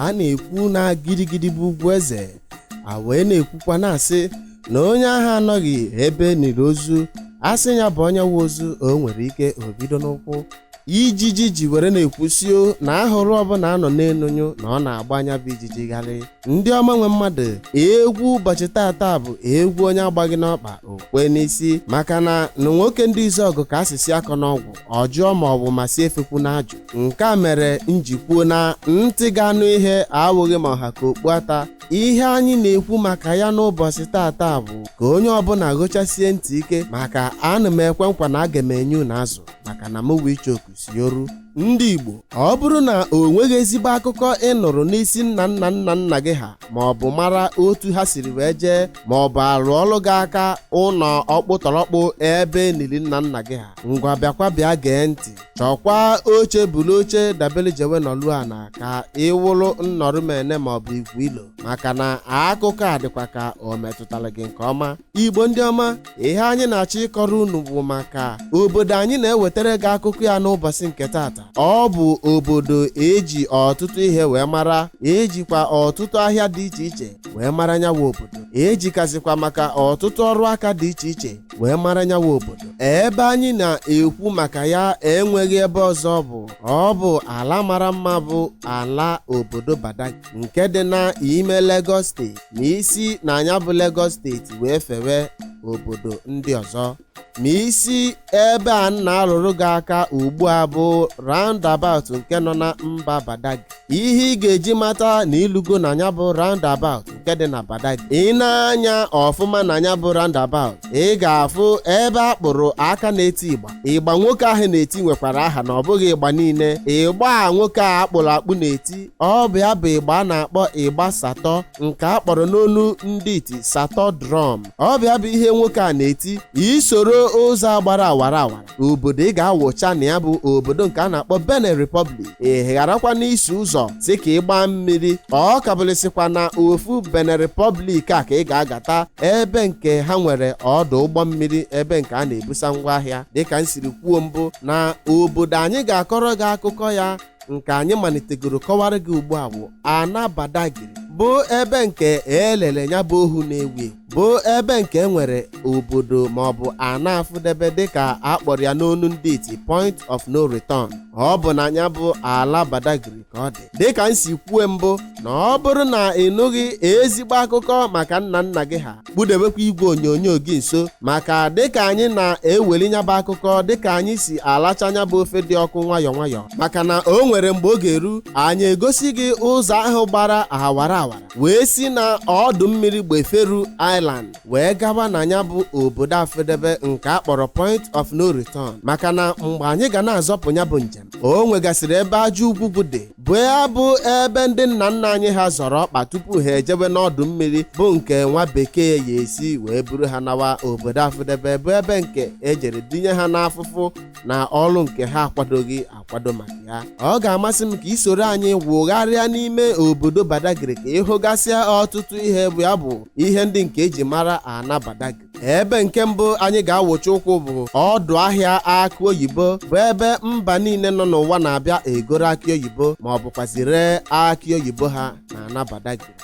a na-ekwu na gidigidi bụ ugwu eze a wee na-ekwukwa na-asị na onye ahụ anọghị ebe e niri ozu a sị ya bọọ nyawa ozu o nwere ike o bido n'ụkwụ ijiji ji were na-ekwusio na ahụrụ ọbụla a nọ n'enu nyụọ na ọ na-agba nya bụ ijiji gharị ndị ọma nwe mmadụ egwu ụbọchị tata bụ egwu onye agbaghị n'ọkpa o kwe n'isi maka na na nwoke ndị izu ọgụ ka asịsị akọ n'ọgwụ ọjọọ ma ọ bụ masị efekwu na ajụ nke a mere m ji kwuo na ntị ga-anụ ihe awụghị ma ọ ha ka okpu ata ihe anyị na-ekwu maka ya n'ụbọchị tata bụ ka onye ọbụla gechasie ntị ike maka ana m ekwe nkwa na aga m enye unu azụ maka na mụwa ichoku si oru ndị Igbo ọ bụrụ na o nweghị ezigbo akụkọ ị nụrụ n'isi nna nna nna nna gị ha ma ọ bụ mara otu ha siri wee jee ma ọ bụ a rụọrọ gị aka ụlọ ọkpụtọrọkpụ ebe e nili nna nna gị ha ngwa bịakwa bịa gee ntị chọkwa oche buru oche dabere jewe nọlụ ana ka ị wụrụ nnọrụ m ene maọbụ igwu ilo maka na akụkọ a dịkwa ka o metụtara gị nke ọma igbo ndị ọma ihe anyị na-achọ ịkọrọ unu bụ maka obodo anyị na-ewetara gị akụkọ ya n'ụbọchị nke tata ọ bụ obodo e ji ọtụtụ ihe wee mara e jikwa ọtụtụ ahịa dị iche iche wee mara nyawa obodo e jikazịkwa maka ọtụtụ ọrụ aka dị iche iche wee mara nyawa obodo ebe anyị na-ekwu maka ya enweghị ebe ọzọ ọ bụ ọ bụ ala mara mma bụ ala obodo Badagry nke dị n'ime Lagos steeti ma i si na nya bụ Lagos steeti wee fewe obodo ndị ọzọ ma i si ebe a na-arụrụ gị aka ugbu a bụ roundabout nke nọ na mba Badagry ihe ị ga-eji mata na i lugo na nya bụ roundabout nke dị na Badagry i nee anya ọfụma na nya bụ roundabout ị ga-afụ ebe a kpụrụ aka na-eti ịgba ịgba nwoke ahụ na-eti nwekwara aha na ọ bụghị ịgba niile ịgba a nwoke a a kpụrụ akpụ na-eti ọ bụ ya bụ ịgba a na-akpọ ịgba Sato nke a kpọrọ n'olu ndị iti Sato drum ọ bụ ya bụ ihe nwoke a na-eti i soro ụzọ a gbara awara awara obodo ị ga-awụcha na ya bụ obodo nke a na-akpọ Benin Republic ị gharakwa n'isi ụzọ sị ka ị gbaa mmiri ọ kabụlịsịkwa na ofu Benin Republic a ka ị ga-agata ebe nke ha nwere ọdụ ụgbọ mmiri ebe nke a na-ebusa ngwa ahịa dịka m siri kwuo mbụ na obodo anyị ga-akọrọ gị akụkọ ya nke anyị malitegoro kọwara gị ugbu a bụ ana Badagry bụ ebe nke elele ya bụ ohu na-ewu bụ ebe nke e nwere obodo maọbụ ana afụdebe dịka a kpọrọ ya n'onu ndị iti point of no return ọ bụ na ya bụ ala Badagry ka ọ dị dịka m si kwue mbụ na ọ bụrụ na ị nụghị ezigbo akụkọ maka nna nna gị ha kpudebekwa igwe onyonyo gị nso maka dịka anyị na-eweli nyabụ akụkọ dịka anyị si alacha nyabụ ofe dị ọkụ nwayọọ nwayọọ maka na o nwere mgbe ọ ga-eru anyị egosi gị ụzọ ahụ gbara awara awara wee si na ọdụ mmiri Gbeferu Island wee gaba na nyabụ obodo afụdebe nke a kpọrọ point of no return maka na mgbe anyị ga na-azọpụ nyabụ njem o nwegasịrị ebe aja ugwu dị bụ ya bụ ebe ndị nna nna anyị ha zọrọ ọkpa tupu ha ejebe n'ọdụ mmiri bụ nke nwa bekee ya esi wee buru ha nawa obodo afụdebe bụ ebe nke e jere dinye ha n'afụfụ na ọrụ nke ha akwadoghị akwado maka ya ọ ga-amasị m ka i soro anyị wụgharịa n'ime obodo Badagry ka ị hụgasịa ọtụtụ ihe bụ ya bụ ihe ndị nke e ji mara ana Badagry ebe nke mbụ anyị ga-awụchi ụkwụ bụ ọdụ ahịa akụ oyibo bụ ebe mba niile nọ n'ụwa na-abịa egoro akị oyibo ma ọ bụkwazị ree akị oyibo ha na ana Badagry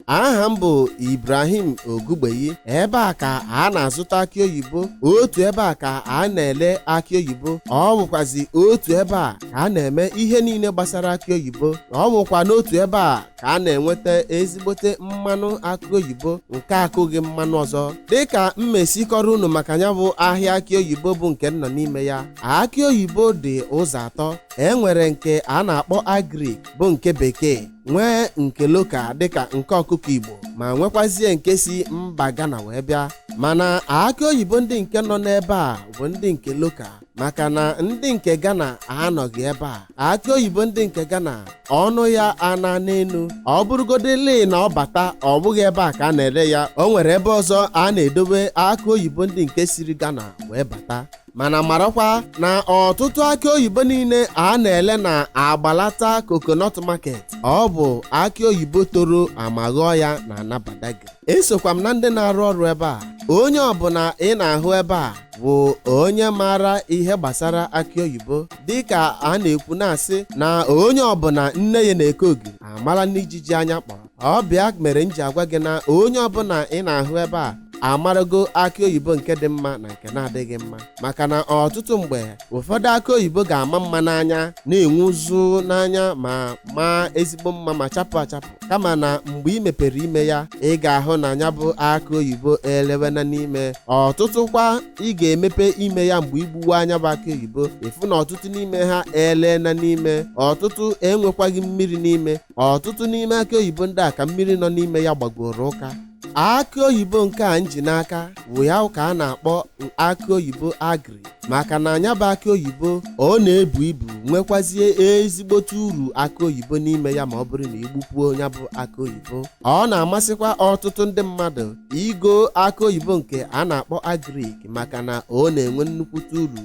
aha m bụ Ibrahim Ogugbeyi ebe a ka a na-azụta akị oyibo otu ebe a ka a na-ele akị oyibo ọ bụkwazi otu ebe a ka a na-eme ihe niile gbasara akị oyibo ọ bụkwa n'otu ebe a ka a na-enweta ezigbote mmanụ akị oyibo nke akụghị mmanụ ọzọ dịka m si kọrọ unu maka nyabụ ahịa akị oyibo bụ nke m nọ n'ime ya akị oyibo dị ụzọ atọ e nwere nke a na-akpọ agric bụ nke bekee nwee nke local dịka nke ọkụkọ Igbo ma nwekwazie nke si mba Ghana wee bịa mana akị oyibo ndị nke nọ n'ebe a bụ ndị nke local maka na ndị nke Ghana anọghị ebe a akị oyibo ndị nke Ghana ọnụ ya ana n'elu ọ bụrụgodị lee na ọ bata ọ bụghị ebe a ka a na-ele ya o nwere ebe ọzọ a na-edobe akị oyibo ndị nke siri Ghana wee bata mana marakwa na ọtụtụ akị oyibo niile a na-ele na Agbalata coconut market ọ bụ akị oyibo toro ama ghọọ ya na ana Badagry esokwa m na ndị na-arụ ọrụ ebe a onye ọbụla ị na-ahụ ebe a bụ onye maara ihe gbasara akị oyibo dịka a na-ekwu na-asị na onye ọbụla nne ya na-eke ogiri amara n'ijiji anya kpọrọ ọ bụ ya mere m ji agwa gị na onye ọbụla ị na-ahụ ebe a amarago akị oyibo nke dị mma na nke na-adịghị mma maka na ọtụtụ mgbe ụfọdụ akị oyibo ga-ama mma n'anya na-enwu ụzụ n'anya ma maa ezigbo mma ma chapụ achapụ kama na mgbe ị mepere ime ya ị ga-ahụ na nyabụ akụ oyibo elewena n'ime ọtụtụkwa ị ga-emepe ime ya mgbe i gbuwe nyabụ akụ oyibo ị fụ na ọtụtụ n'ime ha eleena n'ime ọtụtụ enwekwaghị mmiri n'ime ọtụtụ n'ime akụ oyibo ndị a ka mmiri nọ n'ime ya gbagoro ụka akị oyibo nke a m ji n'aka wụ ya ka a na-akpọ akị oyibo agrik maka na nya bụ akị oyibo ọ na-ebu ibu nwekwazie ezigbote uru akị oyibo n'ime ya ma ọ bụrụ na i gbupuo ya bụ akị oyibo ọ na-amasịkwa ọtụtụ ndị mmadụ igo akị oyibo nke a na-akpọ agrik maka na ọ na-enwe nnukwute uru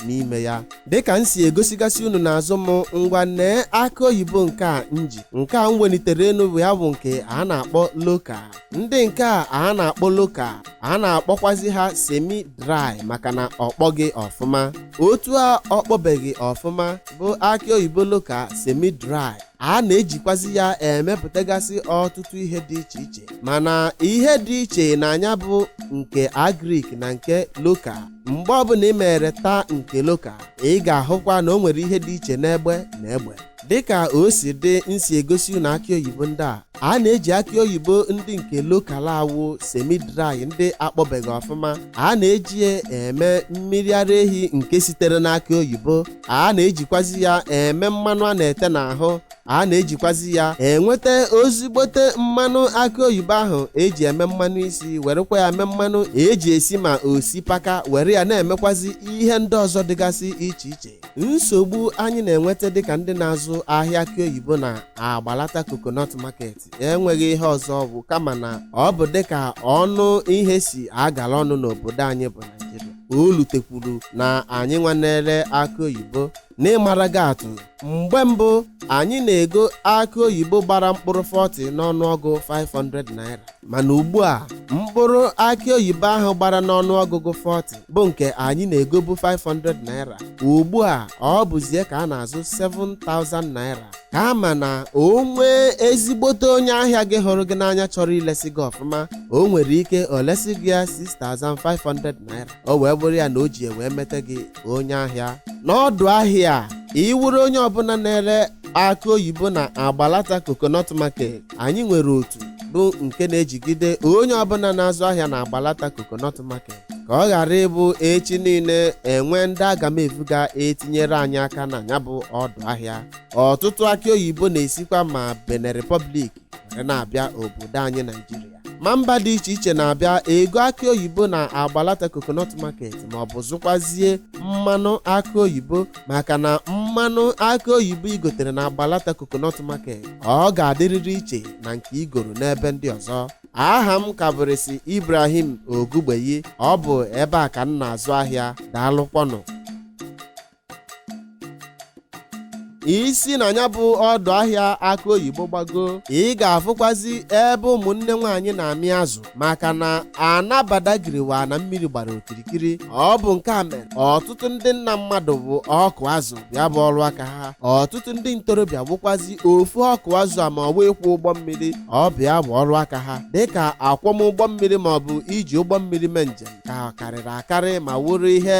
n'ime ya dịka m si egosigasị unu n'azụ m ngwa nee akị oyibo nke a m ji nke a m welitere enu bụ ya bụ nke a na-akpọ loka ndị nke a a na-akpọ loka a na-akpọkwazi ha semi dry maka na ọ kpọghị ọfụma otu a ọ kpọbeghị ọfụma bụ akị oyibo loka semi dry a na-ejikwazi ya emepụtagasị ọtụtụ ihe dị iche iche mana ihe dị iche na nya bụ nke agrik na nke loka mgbe ọbụla ị mere taa nke loka ị ga-ahụkwa na o nwere ihe dị iche n'egbe na egbe dịka o si dị m si egosi unu akị oyibo ndị a a na-eji akị oyibo ndị nke lokal a wụ semi dry ndị akpọbeghị ọfụma a na-eji ya eme mmiri ara ehi nke sitere n'akị oyibo a na-ejikwazi ya eme mmanụ a na-ete n'ahụ a na-ejikwazi ya enweta ezigbote mmanụ akị oyibo ahụ eji eme mmanụ isi werekwa ya eme mmanụ eji esi ma osipaka were ya na-emekwazi ihe ndị ọzọ dịgasị iche iche nsogbu anyị na-enweta dịka ndị na-azụ ahịa akị oyibo na agbalata coconut market enweghị ihe ọzọ ọ bụ kama na ọ bụ dịka ọnụ ihe si agala ọnụ n'obodo anyị bụ Naịjirịa o lutekwuru na anyị nwa na-ere akị oyibo n'ịmara gị atụ mgbe mbụ anyị na-ego akị oyibo gbara mkpụrụ 40 n'ọnụọgụ 500 naira mana ugbu a mkpụrụ akị oyibo ahụ gbara n'ọnụọgụgụ 40 bụ nke anyị na-egobu 500 naira ugbu a ọ bụzi ya ka a na-azụ 7000 naira kama na o nwee ezigbote onye ahịa gị hụrụ gị n'anya chọrọ ilesi gị ọfụma o nwere ike o lesi gị ya 6500 naira o wee bụrụ ya na o ji wee meta gị onye ahịa n'ọdụ ahịa a ị wụrụ onye ọbụla na-ere akị oyibo na agbalata coconut market anyị nwere otu bụ nke na-ejigide onye ọbụla na-azụ ahịa na agbalata coconut market ka ọ ghara ịbụ echi niile e nwee ndị aga m evu ga-etinyere anyị aka na ya bụ ọdụ ahịa ọtụtụ akị oyibo na-esikwa ma Benin Republic were na-abịa obodo anyị naijiria ma mba dị iche iche na-abịa ego akị oyibo na agbalata coconut market ma ọ bụ zụkwazie mmanụ akị oyibo maka na mmanụ akị oyibo i gotere na agbalata coconut market ọ ga-adịrịrị iche na nke i goro n'ebe ndị ọzọ aha m ka bụrịsị ibrahim ogugbeyi ọ bụ ebe a ka m na-azụ ahịa daalụkwanụ i si na ya bụ ọdụ ahịa akị oyibo gbago ị ga-afụkwazi ebe ụmụnne nwaanyị na-amị azụ maka na ana Badagry wụ ana mmiri gbara okirikiri ọ bụ nke a mere ọtụtụ ndị nna mmadụ bụ ọkụ azụ ya bụ ọrụ aka ha ọtụtụ ndị ntorobịa bụkwazi ofu ọkụ azụ a ma ọ bụ ịkwọ ụgbọ mmiri ọ bụ ya bụ ọrụ aka ha dịka akwọm ụgbọ mmiri ma ọ bụ iji ụgbọ mmiri mee njem ka karịrị akarị ma wụrụ ihe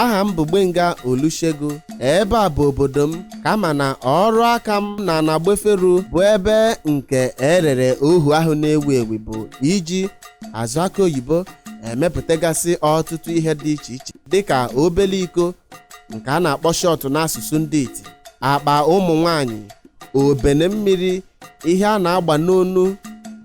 aha m bụ Gbenga Olusegun ebe a bụ obodo m kama na ọrụ aka m n'ana Gbeferu bụ ebe nke e rere ohu ahụ na-ewu ewu bụ iji azụ akị oyibo emepụtagasị ọtụtụ ihe dị iche iche dịka obele iko nke a na-akpọ shot n'asụsụ ndị iti akpa ụmụ nwanyị obene mmiri ihe a na-agba n'onu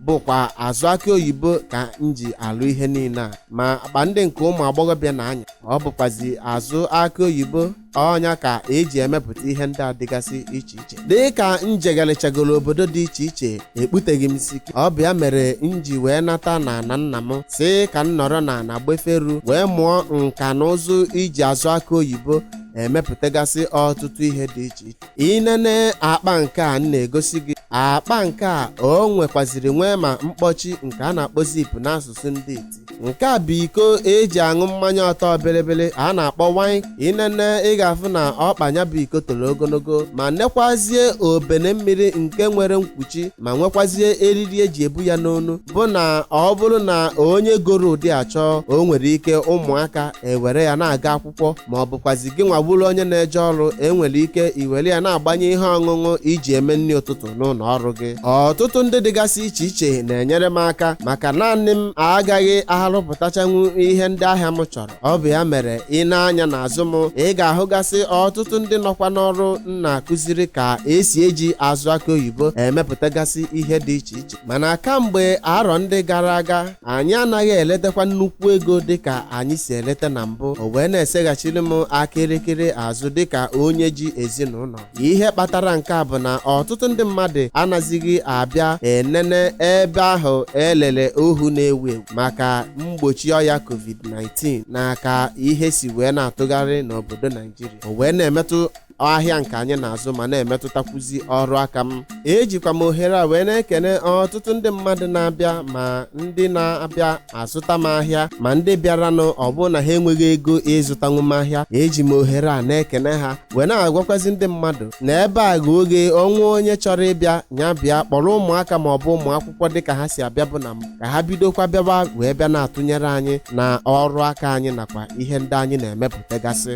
bụkwa azụ akị oyibo ka m ji alụ ihe niile a ma akpa ndị nke ụmụ agbọghọbịa na-anya ọ bụkwazi azụ akị oyibo ọ nya ka eji emepụta ihe ndị a dịgasị iche iche dị ka m jegharịchagoro obodo dị iche iche ekputeghị m isi ọ bụ ya mere m ji wee nata n'ana nna m sị ka m nọrọ n'ana Gbeferu wee mụọ nka na ụzụ iji azụ akị oyibo emepụtagasị ọtụtụ ihe dị iche iche i nene akpa nke a m na-egosi gị akpa nke a o nwekwaziri nwee ma mkpọchi nke a na-akpọ zip n'asụsụ ndị iti nke a bụ iko eji aṅụ mmanya ọtọ bịrịbịrị a na-akpọ wine i nene ị ga-afụ na ọkpa nya bụ iko toro ogologo ma nekwazie obene mmiri nke nwere mkpuchi ma nwekwazie eriri eji ebu ya n'onu bụ na ọ bụrụ na onye goro ụdị a chọọ o nwere ike ụmụaka ewere ya na-aga akwụkwọ akwụkwọ ma ọ bụkwazi gị nwa bụrụ onye na-eje ọrụ enwere ike iwere ya na-agbanye ihe ọṅụṅụ iji eme nri ụtụtụ n'ụlọ ọrụ gị ọtụtụ ndị dịgasị iche iche na-enyere m aka maka naanị m agaghị arụpụtachanwu ihe ndị ahịa m chọrọ ọ bụ ya mere i nee anya n'azụ m ị ga-ahụgasị ọtụtụ ndị nọkwa n'ọrụ m na-akụziri ka esi eji azụ akị oyibo emepụtagasị ihe dị iche iche mana kamgbe arọ ndị gara aga anyị anaghị eletakwa nnukwu ego dịka anyị si eleta na mbụ o wee na-eseghachiri m aka elekere azụ dịka onye ji ezinụlọ ihe kpatara nke a bụ na ọtụtụ ndị mmadụ anazighị abịa enene ebe ahụ e lele ohu na-ewu ewu maka mgbochi ọya covid-19 na ka ihe si wee na-atụgharị n'obodo naijiria o wee na-emetụ ahịa nke anyị na-azụ ma na-emetụtakwuzi ọrụ aka m ejikwa m ohere a wee na-ekene ọtụtụ ndị mmadụ na-abịa ma ndị na-abịa azụta m ahịa ma ndị bịaranụ ọ bụrụ na ha enweghị ego ịzụtanwu m ahịa eji m ohere a na-ekene ha wee na-agwakwazi ndị mmadụ na ebe a ghe oghe ọ nwee onye chọrọ ịbịa ya bịa kpọrọ ụmụaka ma ọ bụ ụmụ akwụkwọ dịka ha si abịabu na mbụ ka ha bidokwa bịawa wee bịa na-atụnyere anyị na ọrụ aka anyị nakwa ihe ndị anyị na-emepụtagasị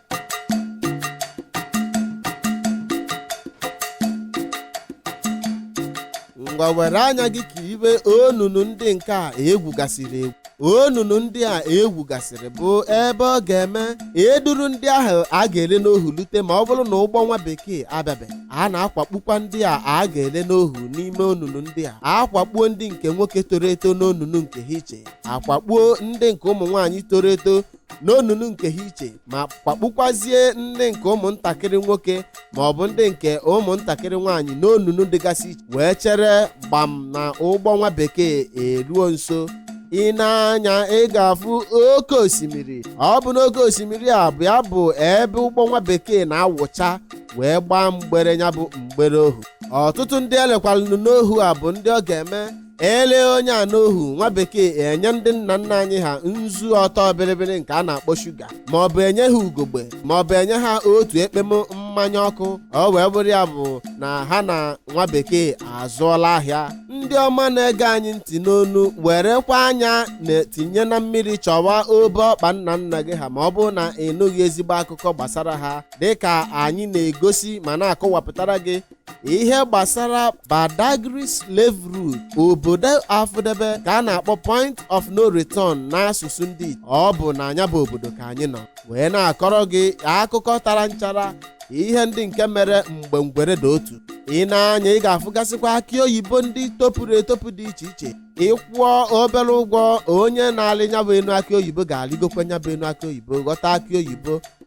ngwa were anya gị kiribe onunu ndị nke a e gwugasịrị egwu onunu ndị a e gwugasịrị bụ ebe ọ ga-eme e duru ndị ahụ a ga-ele n'ohu lute ma ọ bụrụ na ụgbọ nwa bekee abịabeghị a na-akwakpukwa ndị a a ga-ele n'ohu n'ime onunu ndị a a kwakpuo ndị nke nwoke toro eto n'onunu nke ha iche a kwakpuo ndị nke ụmụ nwaanyị toro eto n'onunu nke ha iche ma kwakpukwazie ndị nke ụmụntakịrị nwoke ma ọ bụ ndị nke ụmụntakịrị nwaanyị n'onunu dịgasị iche wee chere gbam na ụgbọ nwa bekee eluo nso i nee anya ị ga-afụ oke osimiri ọ bụ n'oke osimiri a bụ ya bụ ebe ụgbọ nwa bekee na-awụcha wee gbaa mgbere ya bụ mgbere ohu ọtụtụ ndị e lekwaranụ n'ohu a bụ ndị ọ ga-eme e lee onye a n'ohu nwa bekee enye ndị nna nna anyị ha nzu ọtọ bịrịbịrị nke a na-akpọ shuga ma ọ bụ enye ha ugogbe ma ọ bụ enye ha otu ekpem mmanya ọkụ ọ wee bụrụ ya bụ na ha na nwa bekee azụọla ahịa ndị ọma na-ege anyị ntị n'ụnọ werekwa anya na-etinye na mmiri chọwa obe ọkpa nna nna gị ha ma ọ bụrụ na ị nụghị ezigbo akụkọ gbasara ha dịka anyị na-egosi ma na-akọwapụtara gị ihe gbasara Badagry slave route obodo afụdebe ka a na-akpọ point of no return n'asụsụ ndị Igbo. ọ bụ na nya bụ obodo ka anyị nọ wee na-akọrọ gị akụkọ tara nchara ihe ndị nke mere mgbe ngwere dị otu i nee anya ị ga-afụgasịkwa akụ oyibo ndị topuru etopu dị iche iche ị kwụọ obere ụgwọ onye na-alị nya bụ enu akụ oyibo ga-alịgokwa nya bụ enu akụ oyibo ghọta akụ oyibo